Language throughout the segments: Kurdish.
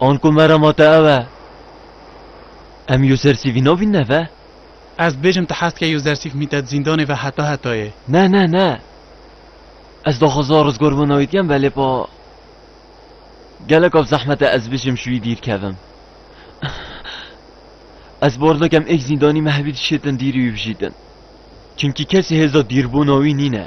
An ku me re ma te ew e. Em Yuzersîfî navîn neve? Ez dibêjim tu hez dikê Yuzersîf mîte di zîndanê ve heta hetayê. Ne, ne, ne. Ez daxwaza rizgar bûna wî dikem belê pa geleka bi zehmet e ez bijim ji wî dîr kevim. Ez bar dikim êk zîndanî me hevî dişêtin dîrî wî bijîtin. Çimkî kesî hêza dîrbûna wî nîne.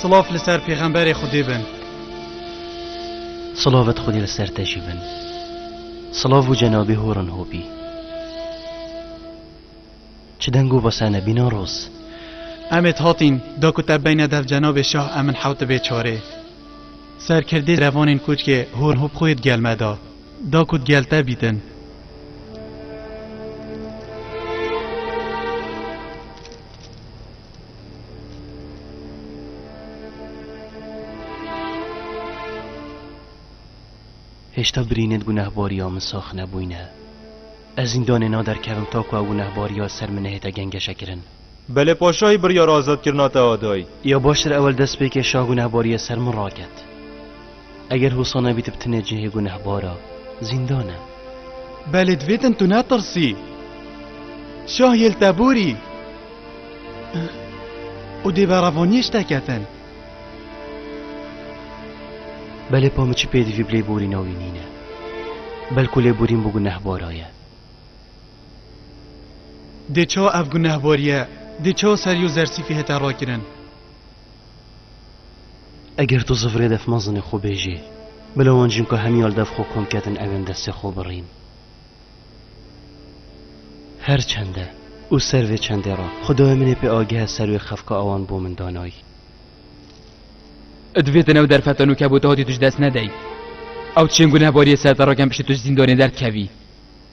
Silav li ser pêxemberê Xwedê bin. Silavt Xwedê li ser te jî bin. Silav û cenabê horan hopî. Çi deng û basane bîna roz. Em ê hatîn da ku te beyne dev cenabê şah em min hewt dibê çarê. Serkirdê revanên koçkê horan hop xwe yê digel me da. Da ku digel te bîtin. Hêşta birînên gunehbariya min sax nebûyne. Ez zîndanê naderkevim ta ku ew gunehbariya ser min nehête gengeşekirin. Belê paşayî biryara azatkirina te da dayî. Ya baş tr ewel dest pêkê şah gunehbariya ser min raket. Eger hosa nebî tu bi tine cihê gunehbar a, zîndan e. Belê divê din tu netirsî. Şah yê li te borî. Û dê berevaniyê ji te ketin. Belê pa min çi pêdivî bi lêborîna wî nîne. Belku lêborîn bo gunehbara ye. Dê ça ev gunehbariye, dê ça serî û zersîfî hete rakirin. Eger tu zifrê dev mezin xwe bêjê, bila wan cimka hemî al dev xwe kom kedin ew ên destê xwe birîn. Her çende û ser vê çendê re xudayê min ê pê agihe ser wê xefka awan bo min danay. Ed vê tenew derfetan û kebûta hatî tu ji dest nedey. Ew çêngû ne bariyê ser te re kem piştî tu ji zîndanê derdkevî.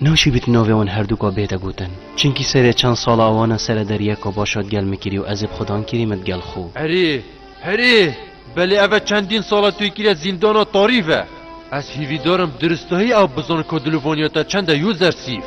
Naşibit navê wan herdûka bête gotin. Çinkî serê çend sala wan e sere deryeka başa digel min kirî û ez ê bi xidan kirî me digel xwe. Erê, herê, belê ev e çendîn sal e tu yê kirî zîndana tarî ve. Ez hîvîdar im diristahî ew bizan ka dilû vaniya te çend e Yûzersîf.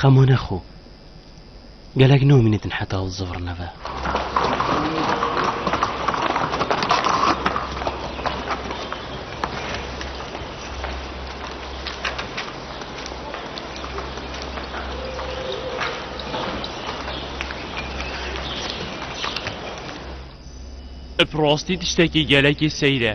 Xema nexo. Gelek nomînê din heta ew zivr nebe. Bi rastî tiştekî gelekî seyr e.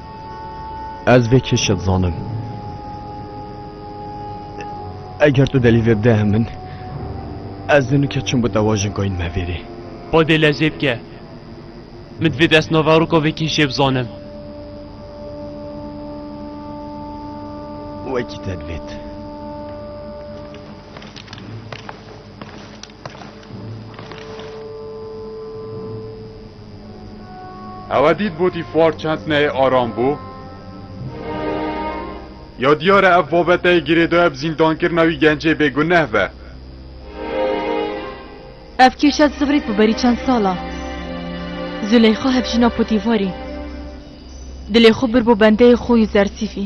Ez vê kêşe dizanim. Eger tu delî vê bide min, ez dê nike çim bi te wajin kayîn me vêrê. Badê lezê bike. Min divê dest naveroka vê kêşê bizanim. Wekî te divêt. Ewe dît botî far çend neyê aram bû. Ya diyar e ev babeteyê girêdayê bi zîndankirina wî gencê bêguneh be. Ev kêşa zivrît bi berî çend sala. Zûleyxa hevjîna Potîfarî dilê xwe bir bo bendeyê xwe û zersîfî.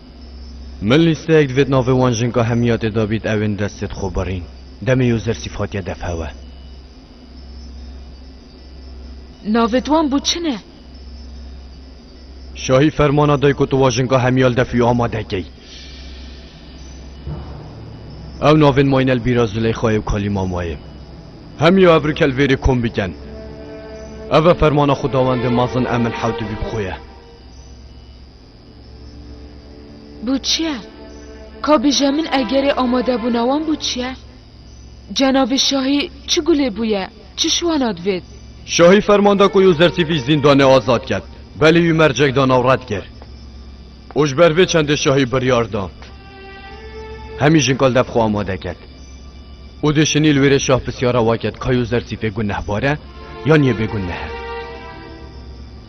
Min lîsteyek divêt navê wan jinka hemiyatê de bît ew ên destê dixwe birîn. Demê Yozersîf hatiye defhewe. Navê wan bû çi ne? Şahî fermana day ku tu wa jinka hemiya li defî amade key. Ew navên Maynel Bîra Zileyxayê û Kalî Mamayê. Hemiya ev rikel vêrê kom biken. Ev e fermana xwedawendê mezin Emil Hewtibîb xwe ye. Bû çiye? Ka bije min egerê amadebûna wan bû çiye? Cenabê şahî çi gulê bûye, çi şiwana divêt? Şahî ferman da ku Yûzertî vî zîndanê azad ket, belê wî mercek da nav red kir. Û ji ber vê çendê şahî biryar da hemî jinkaldef xwe amade ket. Û dê şinî li wêrê şah pisyara wa ket ka Yûzertî fê gunehbar e yan yê bêguneh e.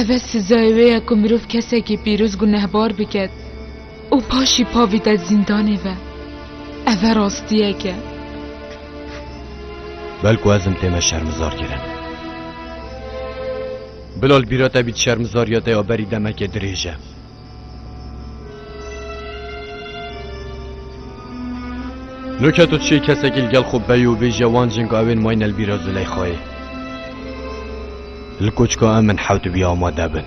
Ev e sizayê wê ye ku mirov kesekî pîroz gunehbar biket û paşî pa vîte zîndanê ve. Ev e rastiyek e. Bel ku ez im tê me şermizar kirin. Bila li bîra te bît şermizariya te ya berî demekê dirêj e. Nuçe tu çi kesekî li gel xwe bey û bêje wan cing ew ên may ne li bîra Zileyxayê. Li koçka em min hewt bî amade bin.